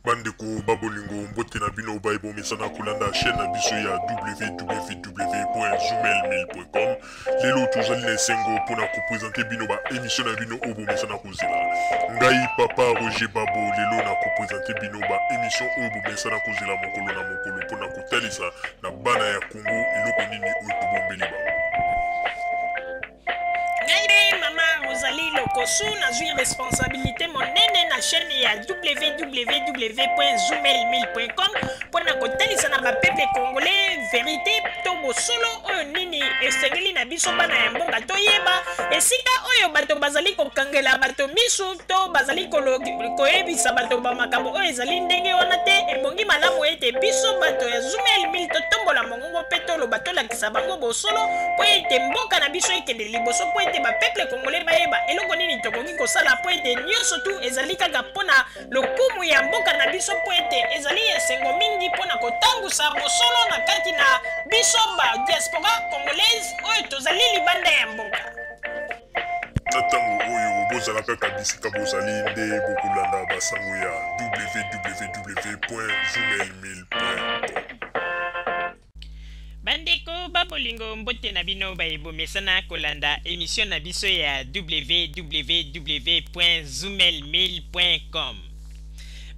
bandeko babolingo mbote na bino baye bomesana kolanda chaîne na biso ya www.zumelmail.com lelo tozali na esengo mpo na kopresente bino baemisio na bino oyo bomesana kozela ngai papa roger babo lelo na kopresente bino baemisio oyo bomesana kozela mokolo na mokolo mpo na kotalisa na bana ya kongo eloko nini oyo tobombeli bango ngai mpe mama rozali lokosu nazwi responsabilité monene na chaîne ya www zoomel1000.com mpo na kotalisa na bapeple congolais verité to bosolo oyo nini esengeli na biso bana ya mboka toyeba esika oyo bato bazali kokangela bato miso to bazali koyebisa bato bamakambo oyo ezali ndenge wana te ebongi malamu ete biso bato ya zoomel 1000 totombola mongo Kongo mpe toloba tolakisa bango bosolo mpo ete mboka na biso ekende liboso mpo ete bapeple kongole bayeba eloko nini tokoki kosala mpo ete nyonso tu ezali kaka mpo na lokumu ya mboka na biso mpo ete ezali esengo mingi mpo na kotangusa bosolo na kati na biso ba diaspora congolaise oyo tozali libanda ya mboka na ntango oyo bozala kaka bisika bozali nde bokolanda basango ya www.journalmail.com bandeko babolingo mbote na bino baye bomesana kolanda emisio na biso ya www.zumelmail.com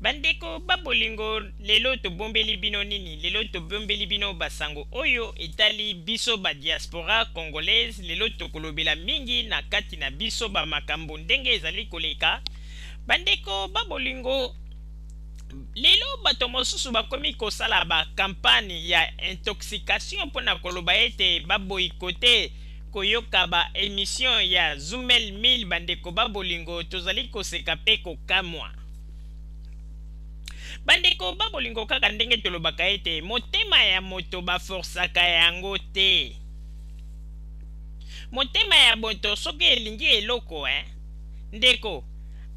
bandeko babolingo lelo tobombeli bino nini lelo tobombeli bino basango oyo etali biso ba diaspora congolaise lelo tokolobela mingi na kati na biso bamakambo ndenge ezali koleka bandeko babolingo lelo bato mosusu bakomi kosala bakampane ya intoxication mpo na koloba ete baboyikote koyoka ba emission ya zumel mil bandeko ba bolingo tozali koseka pe kokamwa bandeko ba bolingo kaka ndenge tolobaka ete motema ya moto baforsaka yango te motema ya moto soki elingi eloko eh? ndeko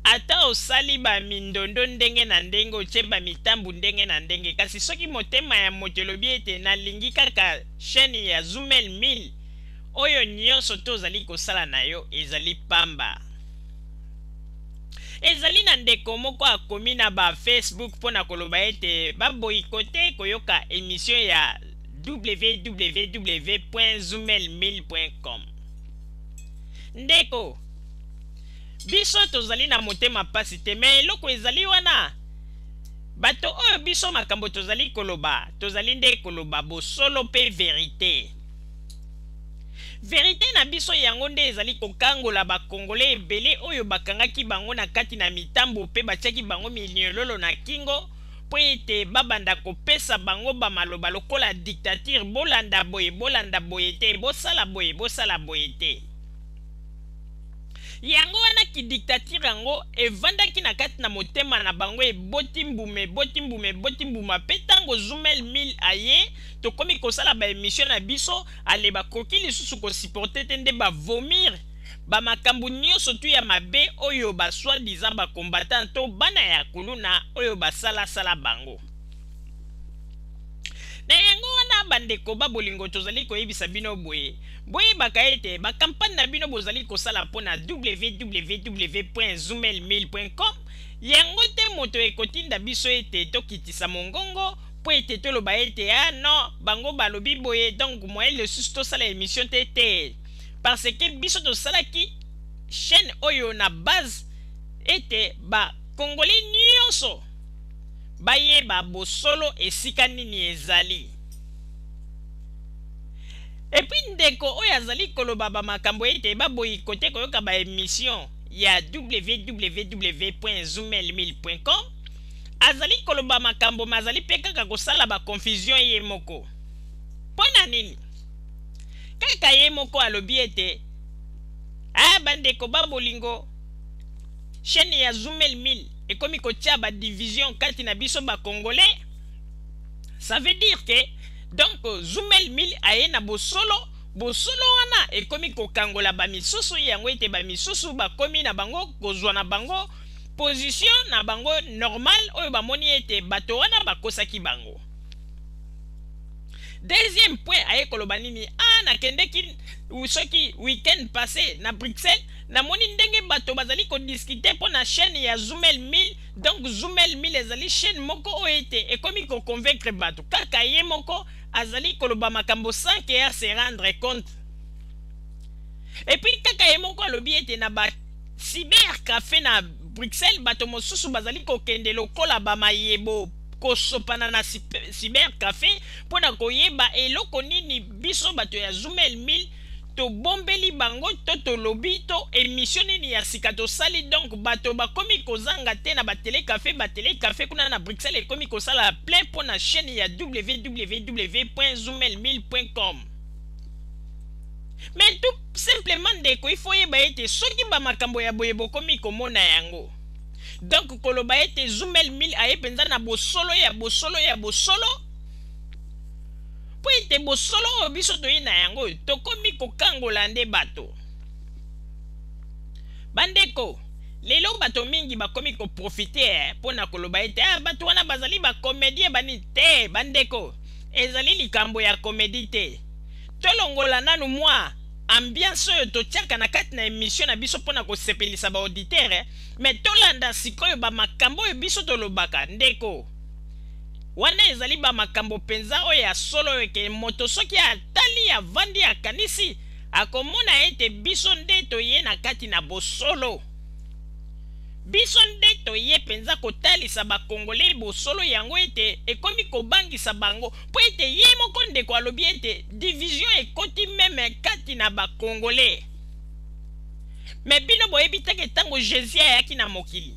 ata osali bamindondo ndenge na ndenge otye bamitambu ndenge na ndenge kasi soki motema ya moto elobi ete nalingi kaka Chaine ya Zumel Mil, oyo nionso to zali ko sala na yo ezali pamba. Ezali na ndeko moko a komi na ba Facebook mpo na koloba ete ba boycotte ko yoka emission ya www.zumelmil.com. Ndeko, biso to zali na motema pasi te mais eloko ezali wana. Bato oyo biso makambo tozali koloba tozali nde koloba bosolo pe verite. Verite na biso yango nde ezali kokangola ba congolais ebele oyo bakangaki bango na kati na mitambo pe batiaki bango miniololo na kingo po ete babanda kopesa bango ba maloba lokola dictature bolanda boye bolanda boye te bosala boye bosala boye te. yango wana kidiktatire yango evandaki na kati na motema na bango eboti mbuma eboti mbuma eboti mbuma mpe ntango zumel mil aye tokomi kosala baemisio na biso ale bakoki lisusu kosiporte te nde bavomir bamakambo nyonso tu ya mabe oyo baswa diza bakombatan to bana ya kuluna oyo basalasala bango Na yango wana, bandeko ba bolingo, tozali koyebisa bino boye, Boyebaka ete bakampanye na bino bozali kosala mpo na www.zumelmil.com yango te moto ekotinda biso ete tokitisa mongongo mpo ete toloba ete, Ah non, bango balobi boye, donc moyen lisusu tosala emission te. Te, parce que biso tosalaki chaine oyo na base ete ba Congolais nionso, bayeba bosolo esika nini ezali. Et puis ndeko oyo azali koloba ba makambo ete ba boycotter koyoka ba emission ya www.zumelmil.com azali koloba makambo mazali pe kaka kosala ba confusion ye moko. Pona nini? Kaka ye moko alobi ete ah bandeko ba bolingo chaîne ya Zumelmil ekomi kotia ba division kati na biso ba congolais ça veut dire que donc zumel mil aye na bosolo bosolo wana ekomi kokangola bamisusu yango ete bamisusu bakomi na bango kozwa na bango position na bango normal oyo bamoni ete bato wana bakosaki bango deuxième point aye koloba nini a ah, nakendeki soki week-end passé na bruxelles Na moni ndenge bato bazali ko discuter mpo na chaine ya Zumel Mil, donc Zumel Mil ezali chaine moko oyo ete ekomi ko convaincre bato kaka ye moko azali koloba makambo sans que a se rendre compte. Et puis kaka ye moko alobi ete na ba cyber cafe na Bruxelles bato mosusu bazali kokende lokola ba mayebo kosopana na cyber cafe mpo na koyeba eloko nini biso bato ya Zumel Mil tobombeli bango to tolobi to emission nini ya sika tosali donc bato bakomi kozanga te na ba telecafe ba telecafe kuna na bruxelles ekomi kosala plein mpo na chaîne ya www zoomel 1000 com mais tout simplement ndeko il faut yeba ete soki bamakambo ya boye bokomi komona yango donc koloba ete zoomel 1000 aye mpenza na bosolo ya bosolo ya bosolo Mpo ete bosolo oyo biso toyei na yango, tokomi kokangola nde bato. Bandeko, lelo bato mingi bakomi ko profiter mpo na koloba ete, Ah, bato wana bazali ba comediens, ba nini. Te, bandeko, ezali likambo ya comedie te. Tolongola nanu mwa ambiance oyo totiaka na kati na emission na biso mpo na kosepelisa ba auditeurs, mais tolanda sikoyo ba makambo oyo biso tolobaka, ndeko. Wana ezali ba makambo mpenza oyo ya solo eke moto soki atali, avandi, akanisi, akomona ete biso nde toye na kati na bosolo. Biso nde toye mpenza kotalisa ba Congolais bosolo yango ete ekomi kobangisa bango mpo ete ye moko ndeko alobi ete division ekoti meme kati na ba Congolais. Mais bino boyebi te ke tango Jesus ayaki na mokili,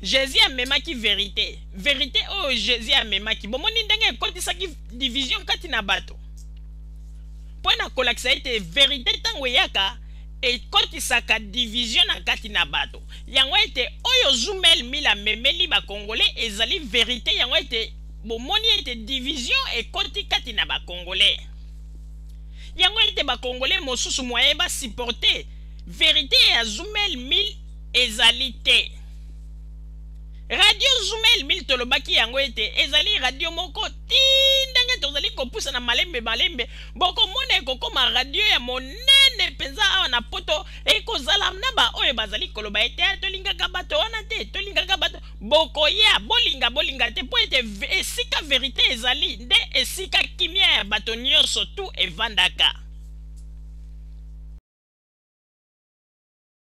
Jesus amemaki verite. Verite oyo Jesus amemaki, bomoni ndenge ekotisaki division kati na bato? Mpo na kolakisa ete verite ntango eyaka, ekotisaka division na kati na bato. Yango ete oyo Zumel Mil amemeli bakongole ezali verite, yango ete bomoni ete division ekoti kati na bakongole. Yango ete bakongole mosusu moye ba supporter verite ya Zumel Mil ezali te. Radio Zumel mil tolobaki yango ete ezali radio moko ti ndenge tozali kopusa na malembe malembe bokomona ekokoma radio ya monene mpenza awa na poto ekozala na baoyo bazali koloba ete ah, tolingaka bato wana te tolingaka bato bokoya bolinga bolinga te mpo ete esika verite ezali nde esika kimia ya bato nyonso tu evandaka